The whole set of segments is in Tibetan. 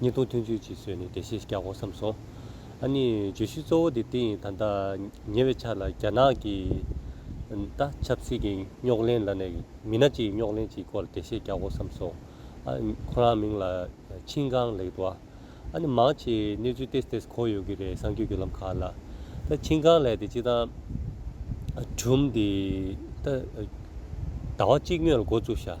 གཉིས་སྟོང་ཐུན་ཚོད་ཅིག་ཟོས་ནས་བདེ་གཤེགས་རྒྱག་གོ་བསམ་སོང། ཨ་ནི་བརྗོད་གཞི་གཙོ་བོ་དེ་དེ་ཡིན་ད་ལྟ་ཉེ་བའི་ཆ་ལ་རྒྱ་ནག་གི་ད་ཆབ་སྲིད་ཀྱི་རྙོག་གླེང་ལ་ནས་མི་སྣ་གཅིག་རྙོག་གླེང་གཅིག་སྐོར་ལ་བདེ་གཤེགས་རྒྱག་གོ་བསམ་སོང། ཨ་ཁོ་རང་མིང་ལ་ཆིང་ཀང་ལེགས་འདུག་ཨ་ནི་མང་ཆེ་གནས་ཚུལ་ཏེ་ཏེ་གོ་ཡོད་ཀྱི་རེད་གསང་རྒྱུ་བརྒྱུད་ལམ་ཁག་ལ་ད་ཆིང་ཀང་ལེགས་དེ་གཅིག་དང་གྲུམ་དེ་ད་ཟླ་བ་གཅིག་སྨྱོས་ལ་འགོ་བཙུགས་ཤག།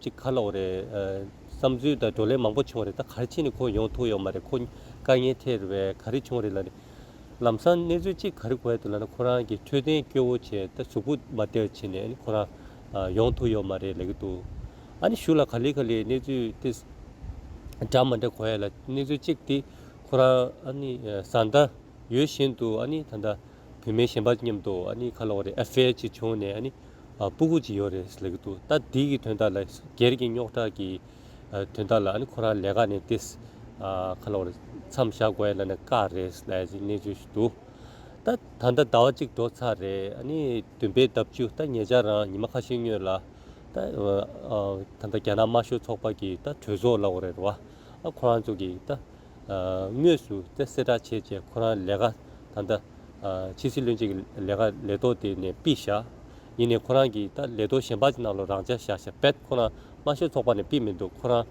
གཅིག་ཁ་ལོག་རེད། བསམ་ཚུལ་དང་བགྲོ་གླེང་མང་པོ་བྱུང་རེད་ད་གར་ཕྱིན་ནས་ཁོ་ཡོང་ཐུག་ཡོད་མ་རེད་ཁོ་དཀའ་ངལ་འཕྲད་རེད་བས་ག་རེ་བྱུང་རེད་ལ་ནི། ལམ་སང་གནས་ཚུལ་གཅིག་ག་རེ་གོ་ཡ་ཐུག་ལ་ན་ཁོ་རང་གི་འཕྲོད་བསྟེན་སྐྱོ་བོ་བྱས་ད་གཟུགས་པོ་མ་དེར་ཕྱིན་ནས་ནི་ཁོ་རང་ཡོང་ཐུག་ཡོད་མ་རེད་ལས་གི་འདུག་ཨ་ནི་ཞུ་ལ་ག་ལེ་ག་ལེ་གནས་ཚུལ་དེ་འདྲ་མ་འདྲ་གོ་ཡ་ལ་གནས་ཚུལ་གཅིག་དེ་ཁོ་རང་ཨ་ནི་བཟའ་ཟླ་ཡོད་བཞིན་དུ་ཨ་ནི་ད་ད། བུད་མེད་གཞན་པ་མཉམ་དུ་ཨ་ནི་ཁ་ལོག་རེད Affair ཅིག་བྱུང་ནས་ཨ་ནི་སྤུ་གུ་ཅིག་ཡོད་རེད་ཟེར་གྱི་འདུག་ད་འདི་གི་དོན་དག་ལ་སྒེར་གྱི་རྙོག་དྲ་གི་དོན་དག་ལ་ཨ་ནི་ཁོ་རང་ལས་ཀ་ནས་བསྡད་ཁ་ལོག་རེད་མཚམས་བཞག་དགོས་ལ་ནི་དཀའ་རེད་ཟེར་ཅིག་གནས་ཚུལ་ཞིག་འདུག་ད་ད་ལྟ་ཟླ་བ་གཅིག་འགྲོ་ཚར་རེད་ཨ་ནི་བདུན་པའི་ཟླ་བཅུ་ད་ངེད་ཅག་རང་ཉི་མ་ཁ་ཤས་སྨྱོས་ལ་ད་ད་ལྟ་རྒྱ་ནག་དམར་ཤོག་ཚོགས་པ་གྱི་ད་གྲོས་ཚོགས་ལ་འོ་རེད་རེད་བ་ཨ་ཁོ་རང་ཚོ་གི་ད། དངོས་སུ་གསལ་བསྒྲགས་བྱེད་ཅེས་ཁོ་རང་ལས་ཀ་ད་ལྟ་ཕྱི་སྲིད་བློན་ཆེན་གྱི་ལས་ཀ་ལས་ཐོག་དེ་ནས་པི་བཞག་ཡིན་ནས་ཁོ་རང་གིས་ད་ལས་ཐོག་གཞན་པ་ཅིག་གནང་ལོ་རང་ཅག་བཞག་བཞག་བེད་ཁོ་རང་དམར་ཤོག་ཚོགས་པ་ནས་པི་མི་འདུག་ཁོ་རང་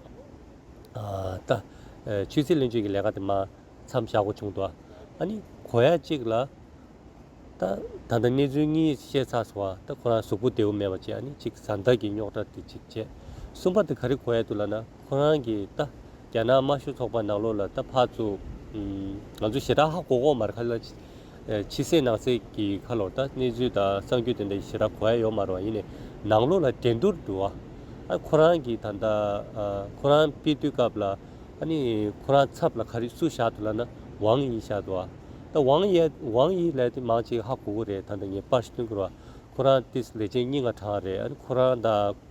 ད་ཕྱི་སྲིད་བློན་ཆེན་གྱི་ལས་ཀ་དེ་མ་འཚམས་བཞག་གོ་བྱུང་འདུག་ཨ་ནི་གོ་ཡ་གཅིག་ལ་ད་ད་ལྟ་གནས་ཚུལ་གཉིས་ཤེས་ཚར་སོང་བ་ད་ཁོ་རང་གཟུགས་པོ་བདེ་བོ་མེད་པ་ཅིག་ཨ་ནི་གཅིག་གཟའ་ཟླ་གི་རྙོག་དྲ་དེ་གཅིག་བཅས་གསུམ་པ་དེ་ག་རེ་གོ་ཡ་འདུག་ལ་ན། ཁོང་རང་གིས་ད་རྒྱ་ནག་དམར་ཤོག་ཚོགས་པ་ནག་ལོ་ལ་ད་ཕར་བཙུགས། ང་ཚོ་ཞེ་དྲག་ཧ་གོ་གོ་མར་ཁ་ལ་ཕྱི་སེ་ནང་སེ་གི་ཁ་ལོ་ད་གནས་ཚུལ་དང་གསང་རྒྱུ་དེ་འདྲ་ཞེ་དྲག་གོ་ཡ་ཡོད་མ་རུང་བ་ཡིན་ནས་ནག་ལོ་ལ་འགྲན་བསྡུར་འདུག་ཨ་ཁོ་རང་གིས་ད་ལྟ་ཁོ་རང་དཔེ་དུས་སྐབས་ལ་ཨ་ནི་ཁོ་རང་ཚབ་ལ་ག་རེ་སུ་བཞག་འདུག་ལ་ན་ཝང་དབྱི་བཞག་འདུག་ཨ་ད་ཝང་དབྱི་ལས་དེ་མང་གཅིག་ཧ་གོ་གོ་རེད་ད་ནི་ངས་པར་ཞུ་དོན་གོ་ར་ཁོ་རང་ཏིས་ལས་བྱེད་རྙི་ང་གྲངས་རེད་ཨ་ནི་ཁོ་རང་ད།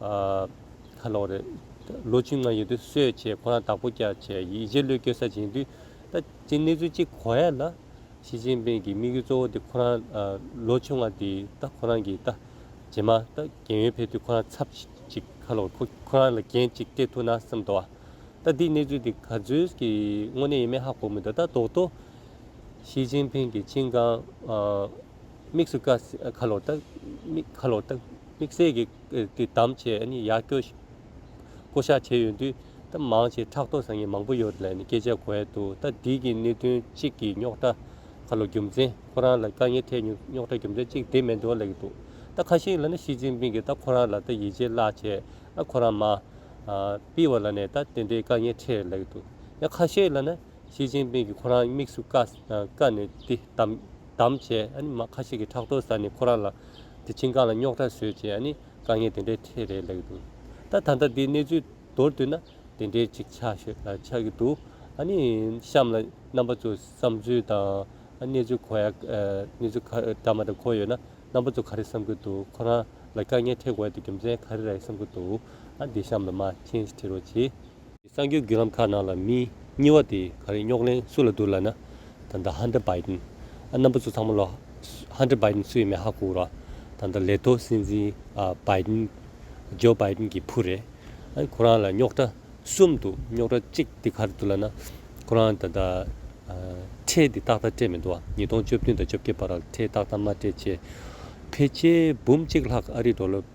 ཨ། ད་ལོག་རེད། ལོ་བཅུ་ལྔ་ཡོལ་དུས་གསོད་བྱས་ཁོ་རང་དྭགས་པོ་སྐྱ་བྱས་ཡིད་བྱེད་བློས་སྐྱོད་ས་བྱིན་དུས་ད་ཅི་གནས་ཚུལ་ཅི་གོ་ཡ་ལ། ཞི་ཅིན་ཕིན་གྱི་དམིགས་ཡུལ་གཙོ་བོ་དེ་ཁོ་རང་ལོ་བཅུ་ལྔ་དེ་ད་ཁོ་རང་གིས་ད་རྗེས་མ་ད་རྒན་ཡོལ་ཕེབས་དུས་ཁོ་རང་ཚབ་ཅིག་ཁ་ལོག་ཁོ་ཁོ་རང་ལ་རྒྱན་ཅིག་སྤྲད་ཐུག་ན་བསམ་དོ་ཨ། ད་འདི་གནས་ཚུལ་དེ་ག་ཚོད་ཀྱི་དངོས་གནས་ཡིན་མིན་ཧ་གོ་མི་འདུག་ད་རྡོག་རྡོག། ཞི་ཅིན་ཕིན་གྱི་ཅིན་ཀང། དམིགས་སུ་ཀ་ཁ་ལོག་ད་དམིགས་ཁ་ལོག་ད། དམིགས་བསལ་གྱི་བདམས་བྱས་ཡག་སྐྱོ་ཞིག་བསྐོ་གཞག་བྱས་ཡོད་དུས་མང་ཆེ་ཕྲག་དོག་ཟ་ངེས་མང་པོ་ཡོད་རེད་ལ་ནི་སྐད་ཆ་གོ་ཡ་འདུག་ད་འདི་གི་གནད་དོན་གཅིག་གི་རྙོག་དྲ་ཁ་ལོ་རྒྱུ་མཚན་ཁོ་རང་ལ་དཀའ་ངལ་འཕྲད་ཉུག་རྙོག་དྲ་རྒྱུ་མཚན་གཅིག་དེ་མེད་འདོད་ལེགས་འདུག་ད་ཁ་ཞིག་ལ་ནི་ཞི་ཅིན་ཕིན་གྱི་ད་ཁོ་རང་ལ་ད་ཡིད་ཆེས་བརླག་བྱས་ཨ་ཁོ་རང་མ་སྤིལ་བ་ལ་ནི་ད་དེ་འདྲའི་དཀའ་ངལ་འཕྲད་ལེགས་འདུག་ཡ་ཁ་ཞིག་ལ་ནི། ཞི་ཅིན་ཕིང་གིས་ཁོ་རང་དམིགས་སུ་བཀར་ནས་དེ་བདམས་བྱས། ཁ་ཤས་ཀྱིས་ཕྲག་དོག་ཟ་ནས་ཁོ་རང་ལ་དེ་ཁྱིམ་གང་ལ་རྙོག་དྲ་བཟོས་ཅེས་དཀའ་ངལ་དེ་འདྲའི་ཐད་རེད་ལབ་འདུག་ད་ད་ལྟ་དེའི་གནས་ཚུལ་མདོར་བསྡུས་ན་དེ་འདྲའི་ཅིག་ཆགས་ཀྱི་འདུག་གཤམ་ལ་རྣམ་པ་ཚོའི་བསམ་ཚུལ་དང་གནས་ཚུལ་གོ་ཡ་གནས་ཚུལ་ག་རེ་འདྲ་མ་འདྲ་གོ་ཡོད་ན་རྣམ་པ་ཚོ་ག་རེ་བསམ་གྱི་འདུག་ཁོ་རང་ལ་དཀའ་ངལ་འཕྲད་དགོས་ཡ་དེ་རྒྱུ་མཚན་ག་རེ་རེད་བསམ་གྱི་འདུག་དེ་གཤམ་ལ་མ་མཁྱེན་བྲི་རོགས་གྱིས། གསར་འགྱུར་བརྒྱུད་ལམ་ཁག་ནང་ལ་མི་གཉིས་བ་དེ་ག་རེ་རྙོག་གླེང་སུ་ལ་བསྡུར་ལ་ན་ད་ད Hunter Biden རྣམ་པ་ཚོ་ཚང་མ་ལ Hunter Biden སུ་ཡིན་མིན་ཧ་གོ་ར་ད་ད་ལས་ཐོག་སྲིད་འཛིན Biden Joe Biden གྱི་བུ་རེད་ཨ་ཁོ་རང་ལ་རྙོག་གྲ་གསུམ་འདུག་རྙོག་གྲ་གཅིག་དེ་ག་རེ་བསྡུར་ལ་ན་ཁོ་རང་ད་ད་ཁྲལ་དེ་ཏག་ཏག་སྤྲད་མི་འདུག་ཨ་ཉིས་སྟོང་བཅོ་བདུན་དང་བཅོ་བརྒྱད་བར་ཁྲལ་ཏག་ཏག་མ་སྤྲད་ཅེས་ཕལ་ཆེར་འབུམ་གཅིག་ལྷག་ཨ་རིའི་འགྲོ་ལོ།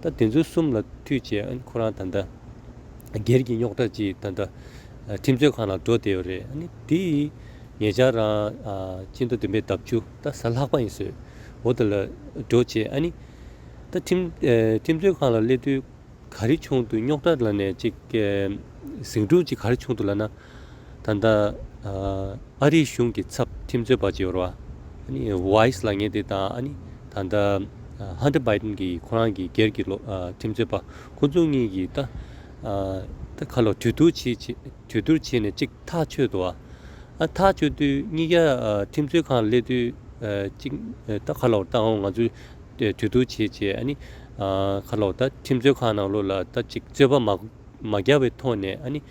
ད་དེ་ཚོའི་གསུམ་ལ་མཐུད་བྱས་ཨ་ནི་ཁོ་རང་ད་ལྟ་སྒེར་གྱི་རྙོག་དྲ་ཅིག་ད་ལྟ་ཁྲིམས་རྩོད་ཁང་ལ་འགྲོ་བསྡད་ཡོད་རེད་ཨ་ནི་དེ་ངེད་ཅག་རང་སྤྱི་མདོ་བདུན་པའི་འདབས་ཆུ་ད་གཟའ་ལྷག་པ་ཡིན་བཟོས་འོ་ད་ལ་འགྲོ་བྱས་ཨ་ནི་ད་ཁྲིམས་རྩོད་ཁང་ལ་སླེབས་དུས་ག་རེ་བྱུང་འདུག་རྙོག་དྲ་ལ་ནས་ཅིག་ཟིང་འཁྲུག་ཅིག་ག་རེ་བྱུང་འདུག་ལ་ན། ད་ལྟ་ཨ་རིའི་གཞུང་གི་ཚབ་ཁྲིམས་རྩོད་པ་ཇེ་ཝར Weiss ལགས་ངེད་དེ་དང་ད་ལྟ Hunter Biden གྱི་ཁོ་རང་གི་སྒེར་གྱི་ཁྲིམས་རྩོད་པ་ཁོ་ཚོ་གཉིས་ཀྱིས་ད་ལྟ་ཁ་ལོ་དྲོད་བསྡུར་བྱས་ནས་ཅིག་ཐག་ཆོད་དུ་ཨ་ཐག་ཆོད་དུས་གཉིས་ཀ་ཁྲིམས་རྩོད་ཁང་སླེབས་དུས་ཅིག་ད་ཁ་ལོ་ད་ང་ཚོས་དྲོད་བསྡུར་བྱས་བྱས་ཨ་ནི་ཁ་ལོ་ད་ཁྲིམས་རྩོད་ཁང་ནང་ལོགས་ལ་ད་ཅིག་རྩོད་པ་མ་བརྒྱག་པའི་ཐོག་ནས་ཨ་ནི།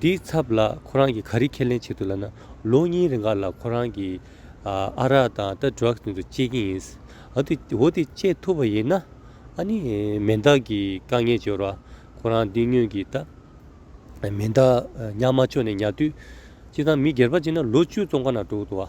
དེའི་ཚབ་ལ་ཁོ་རང་གིས་ག་རེ་ཁས་ལེན་བྱེད་འདུག་ལབ་ན་ལོ་གཉིས་རེ་འགར་ལ་ཁོ་རང་གིས་ཨ་རག་དང་ད Drugs ནས་དུ་སྤྱད་ཀྱིན་ཡིན། འོ་དེ་སྤྱད་ཐུབ་པ་ཡིན་ན་ཨ་ནི་མེ་མདག་གི་དཀའ་ངལ་སྦྱོར་བ་ཁོ་རང་འདི་སྔོན་གྱི་ད་མེ་མདག་ཉག་མ་ཅོ་ནས་ཉར་དུས་ཅི་ཐང་མི་སྒེར་པ་ཅིག་ན་ལོ་བཅུ་ཙོང་ཁ་ན་འགྲོ་གི་འདུག་ཨ།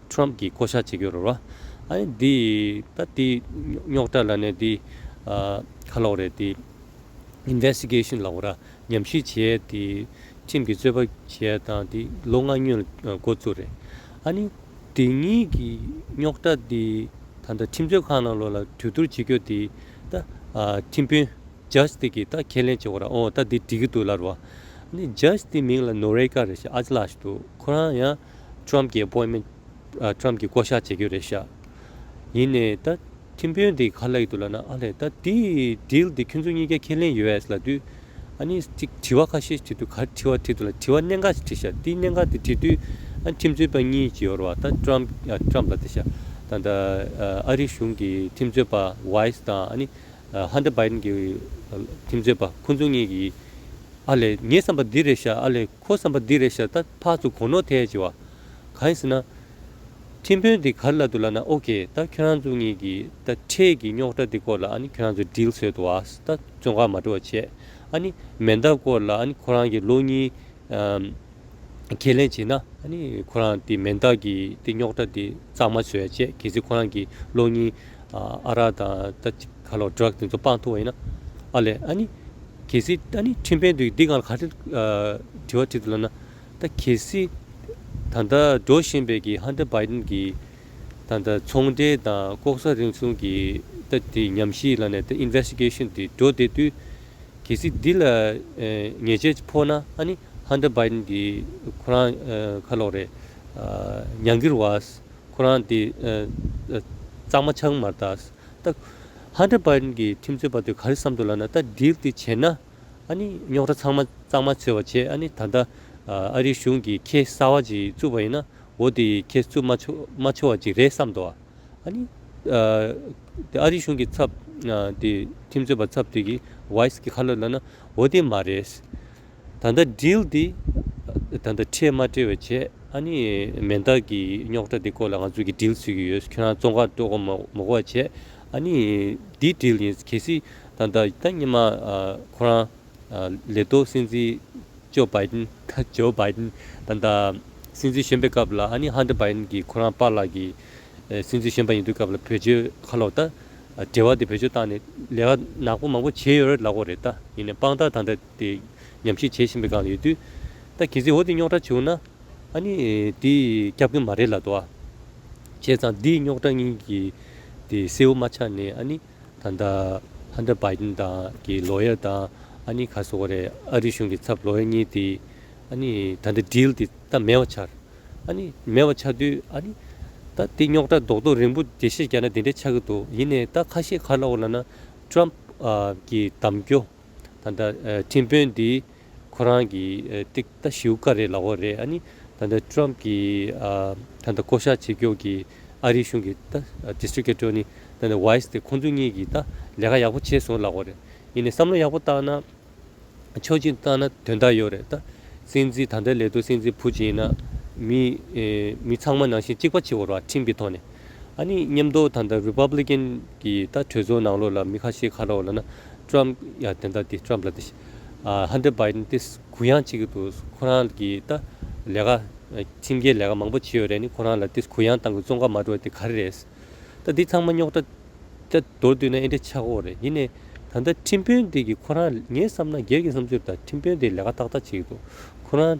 Trump གིས་བསྐོ་གཞག་བྱེད་ཀྱི་རོ། ཨཱ་འདི་ད་དེ་རྙོག་དྲ་ལ་ནས་དེ་ཁ་ལོག་རེད་དེ། Investigation ལ་འོ་ར་ཉམས་ཞིབ་བྱས་དེ་ཁྲིམས་ཀྱི་རྩོད་པ་བྱས་དང་དེ་ལོ་ལྔ་སྙོན་འགོ་བཙུགས་རེད། ཨཱ་ནི་དེ་གཉིས་ཀྱི་རྙོག་དྲ་དེ་ད་ལྟ་ཁྲིམས་རྩོད་ཁང་ནང་ལོག་ལ་གྲོས་བསྡུར་བྱེད་རྒྱུ་དེ་ད་ཁྲིམས་དཔོན Judge དེ་གིས་ད་ཁས་ལེན་བྱེད་འོ་ར་འོ་ད་དེ་འགྲིག་གི་འདུག་ལར་བ། ཨཱ་ནི Judge དེ་མིང་ལ Noreika རེད་ཞེས་ཨཱ་ཅི་ལགས་ཞིག་འདུག་ཁོ་རང་ཡང་ཁྲོམ་གྱི་སྤོས་མེ། ཁྲོམ་གྱི་བསྐོ་བཞག་བྱེད་རྒྱུ་རེད་ཤག། ཡིན་ནའི་ད། ཁྱིམ་དཔོན་འདི་ག་ལ་ཡི་འདུག་ལ་ན་ཨ་ལས་ད་དེ Deal དེ་ཁྱོད་ཚོ་གཉིས་ཀྱ་ཁས་ལེན US ལ་དུས། ཨ་ནི་ཅིག་དྲི་བ་ཁ་ཤས་བྱེད་དུས་ག་རེ་དྲི་བ་དྲིས་འདུག་ལ་དྲི་བ་གནད་འགག་ཅིག་དྲིས་ཤག་དེ་གནད་འགག་དེ་དྲིས་དུས་ཨ་ཁྲིམས་རྩོད་པ་གཉིས་ཀྱི་ཡོར་བ་ད Trump Trump ལ་དེ་ཤག་དང་ད་ཨ་རི་གཞུང་གི་ཁྲིམས་རྩོད་པ Weiss དང་ཨ་ནི Hunter Biden གྱི་ཁྲིམས་རྩོད་པ་ཁོ་ཚོ་གཉིས་ཀྱི་ཨ་ལས་ངས་བསམ་པ་འདི་རེད་ཤག་ཨ་ལས། ཁོ་བསམ་པ་འདི་རེད་ཤ་སྟ་ཕག་ཚོ་གོ་ནོ་ཐལ་ཅི་བ། གང་ཟེར་ན། ཁྲིམས་དཔོན་འདི་གར་ལ་འདུག་ལ་ན་ཨོ་ཁེ་ད་ཁྱོད་རང་ཚོ་གཉིས་ཀྱི་ད་འཕྲལ་གྱི་རྙོག་གྲ་འདི་སྐོར་ལ་ཨ་ནི་ཁྱོད་རང་ཚོ་འགྲིལ་ཚོད་དུ་ཨ་ཟེར་ད་བཙོན་ཁང་མ་འགྲོ་བ་བྱས་ཨ་ནི་མེ་མདའ་སྐོར་ལ་ཨ་ནི་ཁོ་རང་གི་ལོ་གཉིས། ཁས་ལེན་བྱེད་ན་ཨ་ནི་ཁོ་རང་དེ་མེ་མདའ་གྱི་དེ་རྙོག་གྲ་དེ་གཙང་མ་བཟོས་བྱས་གལ་སྲིད་ཁོ་རང་གི་ལོ་གཉིས། ཨ་རག་དང་ད་ཁ་ལོ་སྒྲག་དེ་ཚོ་སྤང་ཐུབ་བ་ཡིན་ན་ཨ་ལས་ཨ་ནི། གལ་སྲིད་ད་ནི་ཁྲིམས་ཕན་འདུག་འདི་གང་ལ་ག་དྲི་བ་དྲིས་འདུག་ལབ་ན། ད་གལ་སྲིད་ད་ལྟ་འགྲོ་བཞིན་པའི་གི Hunter Biden གི་ད་ལྟ་ཚོང་འབྲེལ་དང་ལྐོག་ཟ་རིང་བསྲུང་གི་ད་དེ་ཉམས་གཞིའི་ལ་ནས་ད Investigation དེ་འགྲོ་བསྡད་དུས། གལ་སྲིད་འདི་ལ་ཉེས་ཆད་ཅིག་ཕོག་ན་ཨ་ནི Hunter Biden གི་ཁོ་རང་ཁ་ལོག་རེད། ཉང་གིར་བ་ཁོ་རང་དེ་གཙང་མ་ཆགས་མར་ད། ལྟ། ཧཱ་ཏྲ་པཱན་གྱི་ཁྲིམས་རྩོད་པ་དེ་ག་རེ་བསམ་འདུག་ལབ་ན་ལྟ་འདིར་དེ་བྱས་ན་ཨ་ནི་རྙོག་དྲ་ཚང་མ་གཙང་མ་འཚོལ་བ་བྱས་ཨ་ནི་ད་ལྟ་ཨ་རིའི་གཞུང་གིས་ཁྱེད་གསར་བ་ཅིག་བཙུགས་པ་ཡིན་ན་འོ་དེ་ཡིས་ཁྱེད་བཙུགས་མ་ཆོག་མ་ཆོག་བ་ཅིག་རེད་བསམ་འདུག་ཨ་ནི་དེ་ཨ་རིའི་གཞུང་གི་ཚབ་དེ་ཁྲིམས་རྩོད་པ་ཚབ་དེ་གིས་ཝཱིས་གི་ཁ་ལོ་ལབ་ན་འོ་དེ་མ་རེད། ད་ལྟ་འགྲིལ་འདི། ད་ལྟ་ཁྲེལ་མ་བཀྲེལ་བའི་བྱེད། ཨ་ནི་མེ་མདའ་གི་རྙོག་དྲ་འདི་སྐོར་ལ་ང་ཚོས་ཀྱིས་འགྲིལ་ཚུད་ཀྱི་ཡོད་ཁྱོད་རང་ཙོང་ཁར་སྤྲོ་དགོ་མོ་དགོ་བ་བྱེད། ཨ་ནི་འདི་འགྲིལ་ཡིན་གལ་སྲིད་ད་ལྟ་ད་ཉི་མ་ཁོ་རང། ལེ་ཏོ་སྲིད་འཛིན་ཇོ་བྷའི་དིན། Joe Biden། ད་ལྟ་སྲིད་འཛིན་གཞོན་པའི་སྐབས་ལ་ཨ་ནི་ཧན་ཏེར་བྷའི་དིན་གྱིས་ཁོ་རང་པཱ་ལགས་ཀྱི། སྲིད་འཛིན་གཞོན་པ་ཡིན་དུས་སྐབས་ལ་བོད་ཆོལ་ཁ་ལོག་ད། འབྲེལ་བ་དེ་བོད་ཆོལ་བཏང་ནས་ལས་ཀ་ནག་པོ་མང་པོ་བྱེད་ཡོད་རེད་ལག་གོ་རེད་ད་ཡིན་ནས་དཔང་རྟགས་ད་ལྟ། དེ་ཉམས་ཞིབ་བྱེད་བཞིན་པའི་སྒང་ལ་ཡོད་དུས། ད་གལ་སྲིད་འོ་དེ་རྙོག་དྲ་བྱུང་ན། ཨ་ནི་དེ་སྐྱབས་མགོན་མ་རེད་ལ་དོ། བྱས་ཙང་འདིའི་རྙོག་དྲ་གཉིས་ཀྱི་དེ་སེའུ་མ་ཆགས་ནས་ཨ་ནི་ད་ལྟ Hunter Biden དང་གི Lawyer དང་ཨ་ནི་ག་སོ་ཀ་རེད་ཨ་རི་གཞུང་གི་ཚབ Lawyer གཉིས་དེ་ཨ་ནི་ད་ལྟ Deal དེ་ད་མེད་བ་ཆགས། ཨ་ནི་མེད་བ་ཆགས་དུས་ཨ་ནི་ད་དེ་རྙོག་དྲ་རྡོག་རྡོག་རིང་པོ་དེ་ཤེས་རྒྱ་ན་དེ་འདྲས་ཆགས་ཀྱི་འདུག་ཡིན་ནས་ད་ཁ་ཤས་ཁ་ལོག་ལ་ན Trump གི་གདམ་སྐྱོ། ད་ལྟ་ཁྲིམས་དཔོན་འདི་ཁོ་རང་གི་ཏིག་ཏཱ་ཞིའུ་ཀ་རེད་ལ་བོ་རེད་ཨ་ནི་ད་ལྟ Trump གི་ད་ལྟ་བསྐོ་བཞག་བྱེད་རྒྱུ་གི་ཨ་རིའི་གཞུང་གི་ད District Attorney ད་ལྟ Weiss དེ་ཁོང་ཚོ་གཉིས་གི་ད་ལས་ཀ་ཡག་པོ་བྱས་སོང་ལ་བོ་རེད་ཡིན་ནས་བསམ་བློ་ཡག་པོ་བཏང་ན་ཆོག་མཆི་བཏང་ན་དོན་དག་ཡོད་རེད་ད་སྲིད་འཛིན་ད་ལྟའི་ལས་དོ་སྲིད་འཛིན་བུ་བྱེད་ན་མི་མི་ཚང་མ་ནང་བཞིན་གཅིག་པ་བྱེད་འོར་བ་ཁྲིམས་ཀྱི་ཐོག་ནས་ཨ་ནི་མཉམ་འདོག་ད་ལྟ Republican གི་ད་གྲོས་ཚོགས་ནང་ལོགས་ལ་མི་ཁ་ཤས་ཁ་ལོག་ལ་ན། Trump ཡ་དེ་འདྲ་དེ Trump ལ་དེ Hunter Biden དེ་གུ་ཡངས་བྱེད་ཀྱི་འདུག་ཁོ་རང་གི་ད་ལས་ཀ་ཁྲིམས་འགལ་ལས་ཀ་མང་པོ་བྱེད་ཡོད་རེད་ནི་ཁོ་རང་ལ་དེ་གུ་ཡངས་བཏང་གི་བཙོང་ཁ་མ་འགྲོ་དེ་ག་རེ་རེད། ད་དེ་ཚང་མ་རྙོག་དྲ་ད་མདོར་བསྡུས་ན་ཨེ་འདྲ་ཆག་གོ་རེད་ཡིན་ནས་ད་ལྟ་ཁྲིམས་དཔོན་དེ་གི་ཁོ་རང་ངས་བསམ་ན་སྒེར་གྱི་བསམ་ཚུལ་ད་ཁྲིམས་དཔོན་དེ་ལས་ཀ་ཏག་ཏག་བྱེད་ཀྱི་འདུག་ཁོ་རང་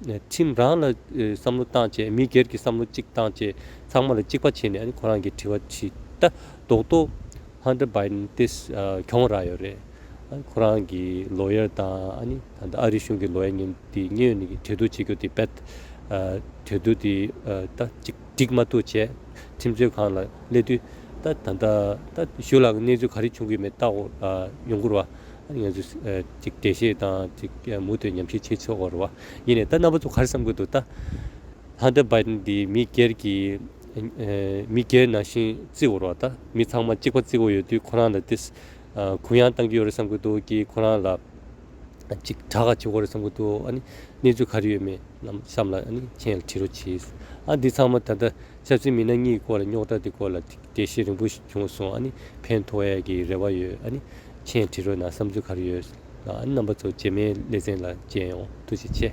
ཁྲིམས་རང་ལ་བསམ་བློ་བཏང་བཅས་མི་སྒེར་གྱི་བསམ་བློ་གཅིག་བཏང་བཅས་ཚང་མ་ལ་གཅིག་པ་བྱས་ནས་ཁོ་རང་གི་དྲི་བ་དྲིས་ད་རྡོག་རྡོག Hunter Biden དེ་གྱོང་རག་ཡོད་རེད། ཁོ་རང་གི Lawyer དང་ད་ལྟ་ཨ་རི་གཞུང་གི Lawyer གཉིས་དེ་གཉིས་ནས་གྲོས་བསྡུར་བྱེད་རྒྱུ Debate གྲོས་བསྡུར་དེ་ད་ཅིག་འགྲིག་མ་ཐུག་བྱས་ཁྲིམས་རྩོད་ཁང་ལ་སླེབས་དུས་ད་ད་ད་ད་ཞུ་ལགས་གནས་ཚུལ་ག་རེ་བྱུང་གི་མེད་ད་ཡོང་ཁུར་བ། ཡོངས་སུ་བདེ་གཤེགས་དང་མུ་སྟེགས་ཉམས་ཤིང་ཆེས་མཆོག་བར་བ་ཡིན་ནས་ད་རྣམ་པ་ཚོ་གར་བསམ་ཀུན་ཏུ་བལྟ། ལྷ་འདྲ་འབའ་འདི་མི་སྒེར་གྱི། མི་སྒེར་ནང་བཞིན་བརྩི་བར་བ་ལྟ་མི་ཚང་མ་གཅིག་པ་བརྩི་བ་ཡོད་དུས་ཁོ་རང་ལ་ཏེ། གུ་ཡངས་བཏང་གི་ཡོད་རེད་བསམ་ཀུན་ཏུ་ཀྱི་ཁོ་རང་ལ། ཅིག་གྲགས་ཆེ་བོ་རེད་བསམ་ཀུན་ཏུ་ཨ་ནི་གནས་ཚུལ་ག་རེ་ཡོད་མེད་རྣམས་བསམ་ལ་ཨ་ནི་མཆན་ལ་བྲིས་རོགས་གྱིས། ཨ་འདི་ཚང་མ་ད་ལྟ་ཆབ་སྲིད་མི་སྣ་གཉིས་ཀྱི་སྐོར་ལ་རྙོག་དྲ་དེ་སྐོར་ལ་དེ་བཞིན་རིང་པོ་ཞིག་བྱུང་སོང་ཨ་ནི་ཕན་ཐོགས་ཡས་ཀྱི་རེ་བ་ཡོད་ཨ་ནི་མཆན་བྲི་རོགས་གནང་བསམ་ཚུལ་ག་རེ་ཡོད་ཨ་ནི་རྣམ་པ་ཚོ་རྗེས་མའི་ལེ་ཚན་ལ་མཇལ་ཡོང་ཐུགས་རྗེ་ཆེ།